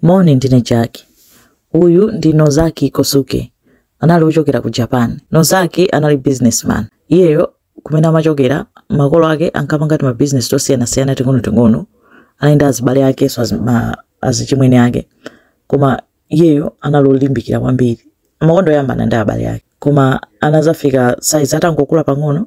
Moni, ndine Jack. Uyu ndi Nozaki Kosuke. Anali ochokera ku Japan. Nozaki anali businessman. Iyeyo kumene amachokera, makolo ake ankapanga timabizinesi tosiyanasiyana ting'onoting'ono. Anali ndi azibale akenso azi- ma- azichimwene ake. Koma iyeyo anali olimbikira kwambiri. Amakonda kuyambana ndi abale ake. Koma anazafika size atangokula pang'ono,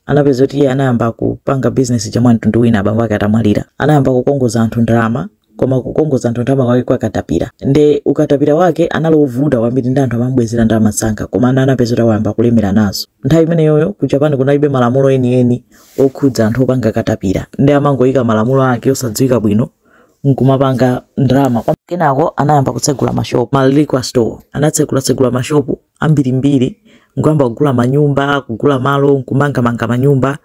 Anapeza kuti iye anayamba kupanga business ija mwa mtundu wina abambo ake atamwalira. Anayamba kukongoza anthu ndalama koma kukongoza anthu ndalama kwake kwa katapira. Nde ukatapira wake anali ovuta kwambiri nde anthu amamubwezera ndalama msanga koma anapeza kuti wayamba kulemera nazo. Nthawi imeneyoyo ku Japan kunalibe malamulo enieni okhudza anthu opanga katapira nde amangoika malamulo ake osadziwika bwino nkumapanga ndalama. Kenako anayamba kutsegula ma shop, ma liquor store. Anatsegulatsegula ma shop ambirimbiri n'kuyamba kugula manyumba, kugula malo n'kumangamanga manyumba.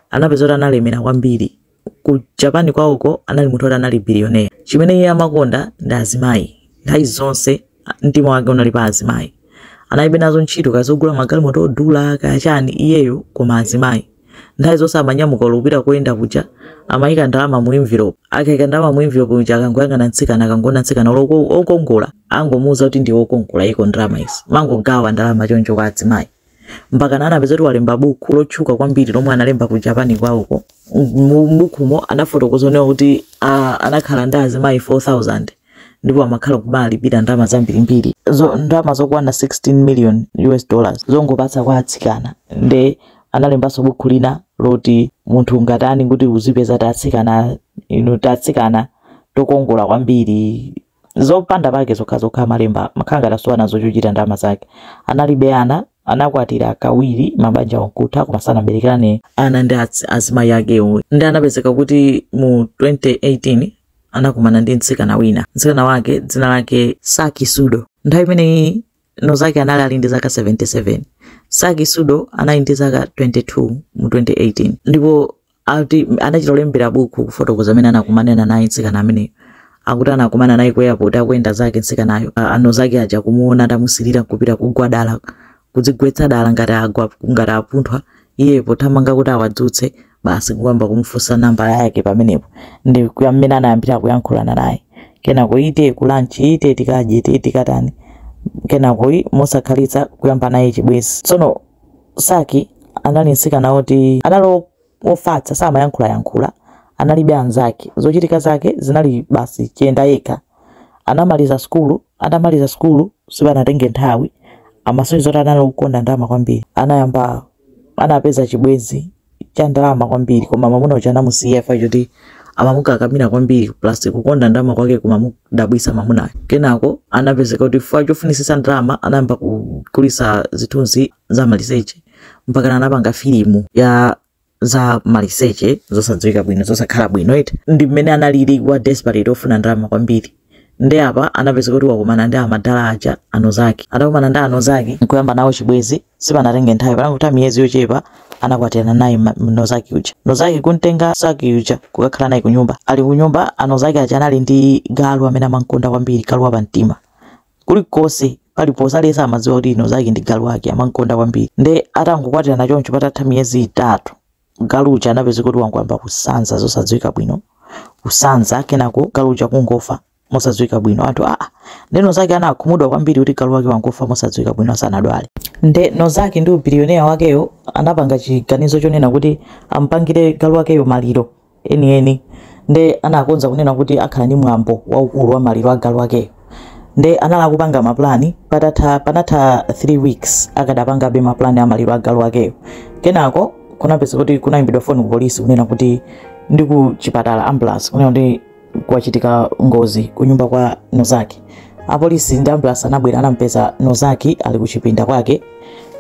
Anapeza kuti analemera kwambiri. Ku Japan kwawoko anali munthu woti anali billionaire. Chimene iye amakonda ndi azimayi. Nthawi zonse a- mtima wake unali pa azimayi. Analibe nazo ntchito kaya zogula magalimoto odula kaya chani iyeyo koma azimayi. Nthawi zonse amanyamuka olo kupita koyenda kuja amayika ndalama mu envelope. Akayika ndalama mu envelope muja akangoyang'ana mtsikana akangoona mtsikana olo ko- okongola angomuuza kuti ndiwe okongola iko ndalama izi. Amangogawa ndalama choncho kwa azimayi. Mpakana anapeza kuti walemba buku lotchuka kwambiri lomwe analemba ku Japan kwawoko. Mu bukumo anafotokoza onena kuti ah, anakhala ndi azimayi 4,000. ndipo amakhala kumalipira ndalama zambirimbiri zo ndalama zokwana 16 million us dollars zongopatsa kwa atsikana nde analembanso buku lina loti munthu ungatani kuti uzipeza tatsikana tinu tatsikana tokongola kwambiri zopanda pake zokhazokha amalemba makhanga adasowa nazo chochita ndalama zake analibe ana anakwatira kawiri mabanja nkutha koma sanaberekane ana ndi azi- azimayi akewo nde anapezeka kuti mu 2018 anakumana ndi mtsikana wina mtsikana wake dzina lake saki sudo nthawi imeneyi nozaki anali ali ndi zaka 77 saki sudo anali ndi zaka 22 mu 2018 ndipo ati anachita kulembera buku kufotokoza mmene anakumanirana naye mtsikana ameneyo akuti anakumana naye ku airport akuyenda zake mtsikanayo A- anozaki aja kumuona atamusilira kupita kugwa dala kudzigwetsa dala ngati agwa ngati apunthwa iye pothamanga kuti awadzutse basi kuyamba kumufunsa nambala yake pamenepo ndi mmene anayambira kuyankhulana naye kenako ite kulanchi ite tikadye ite tikatani kenako i- mosakhalitsa kuyamba naye chibwenzi tsono saki anali mtsikana woti analo Wofatsa samayankhulayankhula, analibe anzake, zochitika zake zinali basi chiyenda yekha. Anamaliza sukulu, atamaliza sukulu sipanatenge nthawi amasonyeza zoti anali wokonda ndalama kwambiri. Anayamba, anapeza chibwenzi cha ndalama kwambiri koma mwamuna uja anamusiya chifukwa choti amamukakamira kwambiri plus kukonda ndalama kwake kumamudabwitsa mwamunayo. Kenako anapezeka kuti chifukwa chofunitsitsa ndalama anayamba kugulitsa zithunzi. za maliseche mpaka anapanga filimu ya za maliseche zosadziwika bwino zosakhala bwino eti ndi mmene analili wa desperate ofuna ndalama kwambiri ndi apa anapezeka kuti wakumana ndi amadala aja a Nozaki atakumana ndi a Nozaki nkuyamba nawo chibwezi sipanatenge nthawi panangoti miyezi yochepa anakwatirana naye ma- nozaki uja nozaki kuntenga saki uja kukakhala naye kunyumba ali kunyumba a Nozaki aja anali ndi galu amene amankonda kwambiri galu wapamtima kulikonse paliponse aliyense amadziwa kuti Nozaki ndi galu wake amankonda kwambiri nde atangokwatirana choncho patatha miyezi itatu galu uja anapezeka kuti wangoyamba kusanza zosadziwika bwino kusanza kenako galu uja kungofa mosadziwika bwino anthu aa nde Nozaki anakhumudwa kwambiri kuti galu wake wangofa mosadziwika bwino asanadwale nde nozaki ndi ubiliyonera wakeyo anapanga chiganizo chonena kuti ampangire galu wakeyo maliro enieni nde anakonza kunena kuti akhala ndi mwambo waukulu wa maliro a galu wakeyo nde anali akupanga ma plan patatha panatha 3 weeks akadapangabe ma plan a maliro a galu wakeyo kenako kunapezeka kuti kunayimbidwa phone ku polisi kunena kuti ndi ku chipatala ambulance kunena kuti kwachitika ngozi kunyumba kwa nozaki apolisi ndi ambulasi anabwera anampeza nozaki ali kuchipinda kwake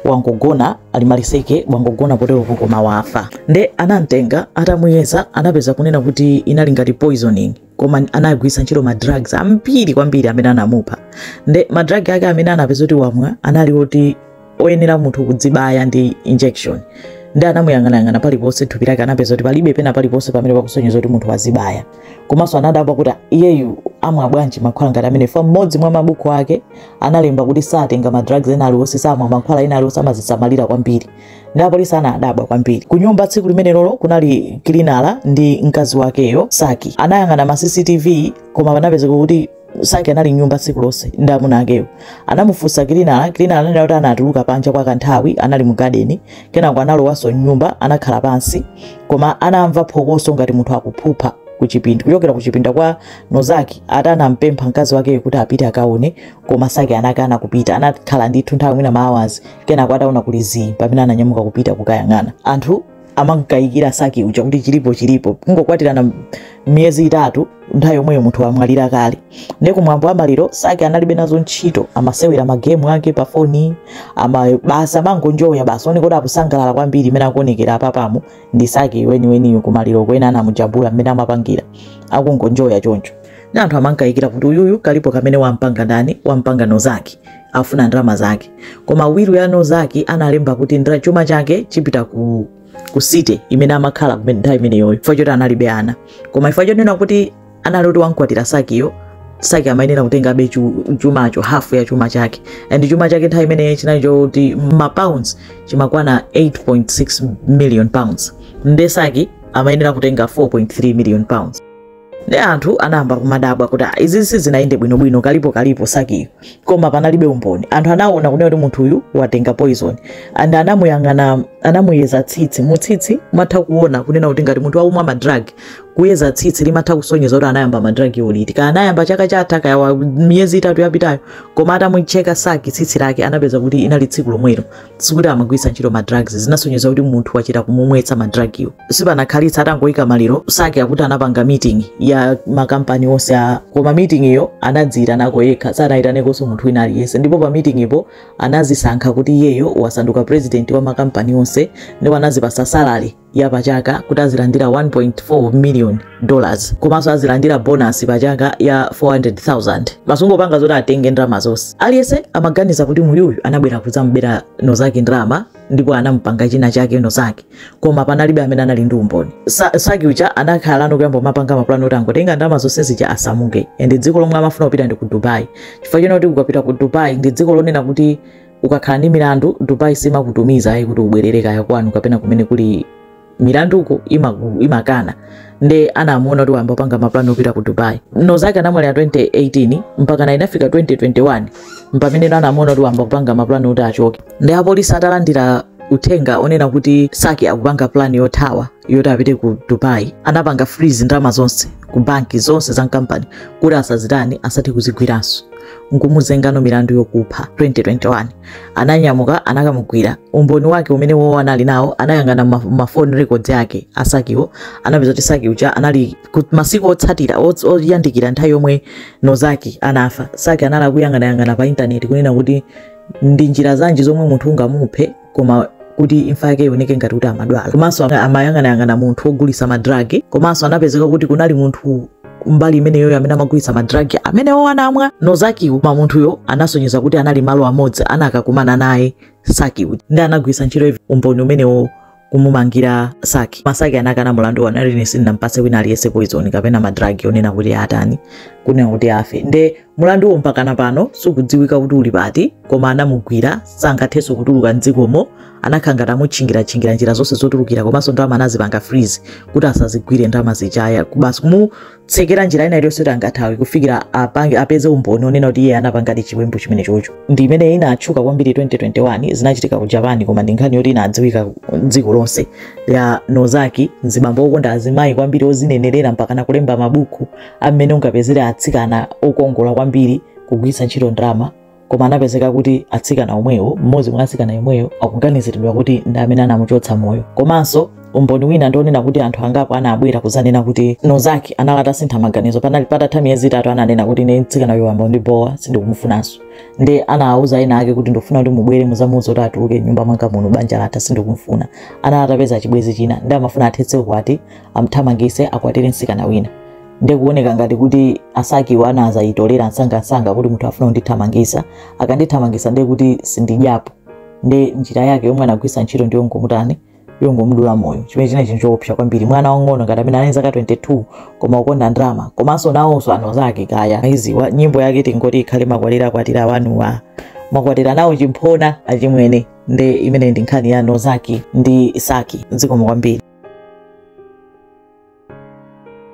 wangogona ali maliseche wangogona poteropo koma wafa nde anamtenga atamuyeza anapeza kunena kuti inali ngati poisoning koma anagwiritsa ntchito ma drugs ambiri kwambiri amene anamupha nde ma drug ake amene anapeza kuti wamwa anali oti oyenera munthu kudzibaya ndi injection ndi anamuyang'anayang'ana paliponse thupi lake anapeza kuti palibe pena paliponse pamene pakusonyeza kuti munthu wazibaya komanso anadabwa kuti iyeyu amwa bwanji mankhwala ngati amenewa fa mmodzi mwa mabuku ake analemba kuti satenga madrugs ena aliwonse samwa mankhwala ena aliwonse amazisamalira kwambiri ndi apolisi anadabwa kwambiri ku nyumba tsiku limenelolo kunali cleaner ndi mkazi wakeyo saki anayang'ana ma cctv koma anapezeka kuti Saki anali m'nyumba tsiku lonse ndi amuna akewo. Anamufunsa cleaner, cleaner ananena kuti anatuluka panja kwa kanthawi, anali mu garden, kenako analowanso m'nyumba, anakhala pansi, koma anamva phokoso ngati munthu akuphupha kuchipinda kuchokera kuchipinda kwa Nozaki ati anampempha mkazi wakeyo kuti apite akaone, koma Saki anakana kupita. Anakhala ndithu nthawi mwina ma hours, kenako ataona kuli zii pamene ananyamuka kupita kukayang'ana. Anthu amamkayikira saki uja kuti chilipo chilipo kungokwatirana m- miyezi itatu nthawi yomweyo munthu wamwalira kale nde kumwambo wa maliro saki analibe nazo ntchito amasewera magemu ake pa foni ama basi amangonjoya basi oneka kuti akusangalala kwambiri imene akuonekera apapa mu ndi saki weniweniyo kumaliro wena anamujambula mmene amapangira akungonjoya choncho nde anthu amamkayikira kuti uyuyu kalipo kamene wampanga ndani wampanga nozaki afuna ndalama zake koma wiru ya nozaki analemba kuti ndra chuma chake chipita ku ku city imene amakhala kumene nthawi imeneyoyo chifukwa choti analibe ana koma chifukwa chonena kuti anali kuti wamkwatira sakiyo saki amayenera kutengabe chu- chumacho hafu ya chuma chake and chuma chake nthawi imeneyo chinali choti mapounds chimakwana 8.6 million pounds nde saki amayenera kutenga 4.3 million pounds nde anthu anayamba kumadabwa kuti "Ah, izi sizinayende bwinobwino kalipo kalipo sakiyo koma panalibe umboni anthu anaona kunena kuti munthu uyu watenga poison and anamuyang'ana anamuyeza tsitsi mutsitsi matha kuona kunena kuti ngati munthu akumwa madrag kuyeza tsitsi limatha kusonyeza kuti anayamba madrag oliti kaya anayamba chaka chatha kaya wa miyezi itatu yapitayo koma atamucheka saki tsitsi lake anapeza kuti inali tsiku lomwelo sikuti amagwiritsa ntchito ma drugs zinasonyeza kuti munthu wachita kumumwetsa ma drug yo sipanakhalitsa atangoyika maliro saki akuti anapanga meeting ya makampani onse a koma meeting yo anadziyitanako yekha sanayitanekonso munthu wina aliyense ndipo pa meeting po anazisankha kuti iyeyo wasanduka president wa makampani onse ndipo anazipasa salary ya pachaka kuti azilandira 1.4 million dollars komanso azilandira bonasi pachaka ya 400,000 basi kungopanga zoti atenge ndalama zonse aliyense amaganiza kuti uyuyu anabwera kudzamubera nozaki ndalama ndipo anamupanga china chake nozaki koma panalibe amene anali ndi umboni Sa- saki uja anakhala nkuyamba kumapanga mapulani oti angotenga ndalama zonse zija asamuke and dziko lomwe amafuna kupita ndi ku dubai chifukwa chonena kuti ukapita ku dubai ndi dziko lonena kuti ukakhala ndi milandu dubai simakutumiza ayi kuti ubwerere kaya kwanu kapena kumene kuli milanduko imaku- imakana nde anamuona kuti wayamba kupanga mapulani opita ku dubai nozaki anamwalira 2018 mpakana inafika 2021 mpameneno anamuona kuti wayamba kupanga mapulani oti achoke nde apolisi atalandira uthenga onena kuti saki akupanga pulani yothawa yoti apite ku dubai anapanga freeze ndalama zonse ku banki zonse za kampani kuti asazitani asadzazigwirenso nkumuzengano milandu yokupha 2021 ananyamuka anakamugwira umboni wake umene iwowo anali nawo anayang'ana ma- ma foni records ake a sakiwo anapeza kuti saki uja anali ku- masiku otsatira ots- oyandikira nthawi yomwe nozaki anafa saki anali akuyang'anayang'ana pa intaneti kunena kuti ndi njira zanji zomwe munthu ungamuphe koma kuti imfa yake ioneke ngati kuti amadwala komanso ama- amayang'anayang'ana munthu wogulitsa madragi komanso anapezeka kuti kunali munthu mbali imeneyoyo amene amagulitsa madragi amenewo anamwa Nozakiwo koma munthuyo anasonyeza kuti anali malo amodzi ana akakumana naye Sakiwo nde anagwiritsa ntchito umboni umenewo kumumangira Saki koma Saki anakana mulandu wanani ine sindinampase wina aliyese poison kapena madragi onena kuti atani kunena kuti afe nde mulanduwo mpakana pano sukudziwika kuti uli pati koma anamugwira sangathenso kutuluka mdzikomo anakhala ngati amutchingiratchingira njira zonse zotulukira komanso ndalama anazipanga freeze kuti asazigwire ndalama zijazi basi kumutsekera njira ina iliyonse kuti angathawe kufikira apange- apeze umboni onena kuti iye anapangadi chiwembu chimenecho nde ndi imene inatchuka kwambiri 2021 zinachitika ku japan koma ndi nkhani yoti inadziwika dziko lonse ya Nozaki mzibambo okonda azimayi kwambiri ozinenerera mpakana kulemba mabuku a mmene ungapezere atsikana okongola kwambiri kugwiritsa ntchito ndalama koma anapezeka kuti atsikana omwewo mmodzi mwa atsikana omwewo akuganiziridwa kuti ndi amene anamuchotsa moyo komanso umboni wina ndionena kuti anthu angapo anabwera kuzanena kuti Nozaki anali atasintha maganizo panali patatha miyezi itatu ananena kuti ine mtsikana uyu wayamba kundibowa sindikumufunanso nde anawauza ena ake kuti ndikufuna kuti mubwere muzamuuze kuti atuluke nyumba mwanga muno banja latha sindikumufuna anali atapeza chibwezi china nde amafuna athetse ukwati amthamangise akwatire msikana wina nde kuoneka ngati kuti a Sakiwo anazaitolera msangamsanga kuti munthuyu akufuna kundithamangisa akandithamangisa nde kuti sindidyapo nde njira yake yomwe anagwisa ntchito ndi yongomutani yongomudula moyo chimene chili chinthu choopsa kwambiri mwana wang'ono ngati ameneyo anali zaka 22 koma kukonda ndalama komanso nawonso a Nozaki kaya iziwa nyimbo yake tingoti ikhale makwatira akwatira wanuwa makwatira nawo chimphona achimwene nde imene ndi nkhani ya nozaki ndi isaki zikomo kwambiri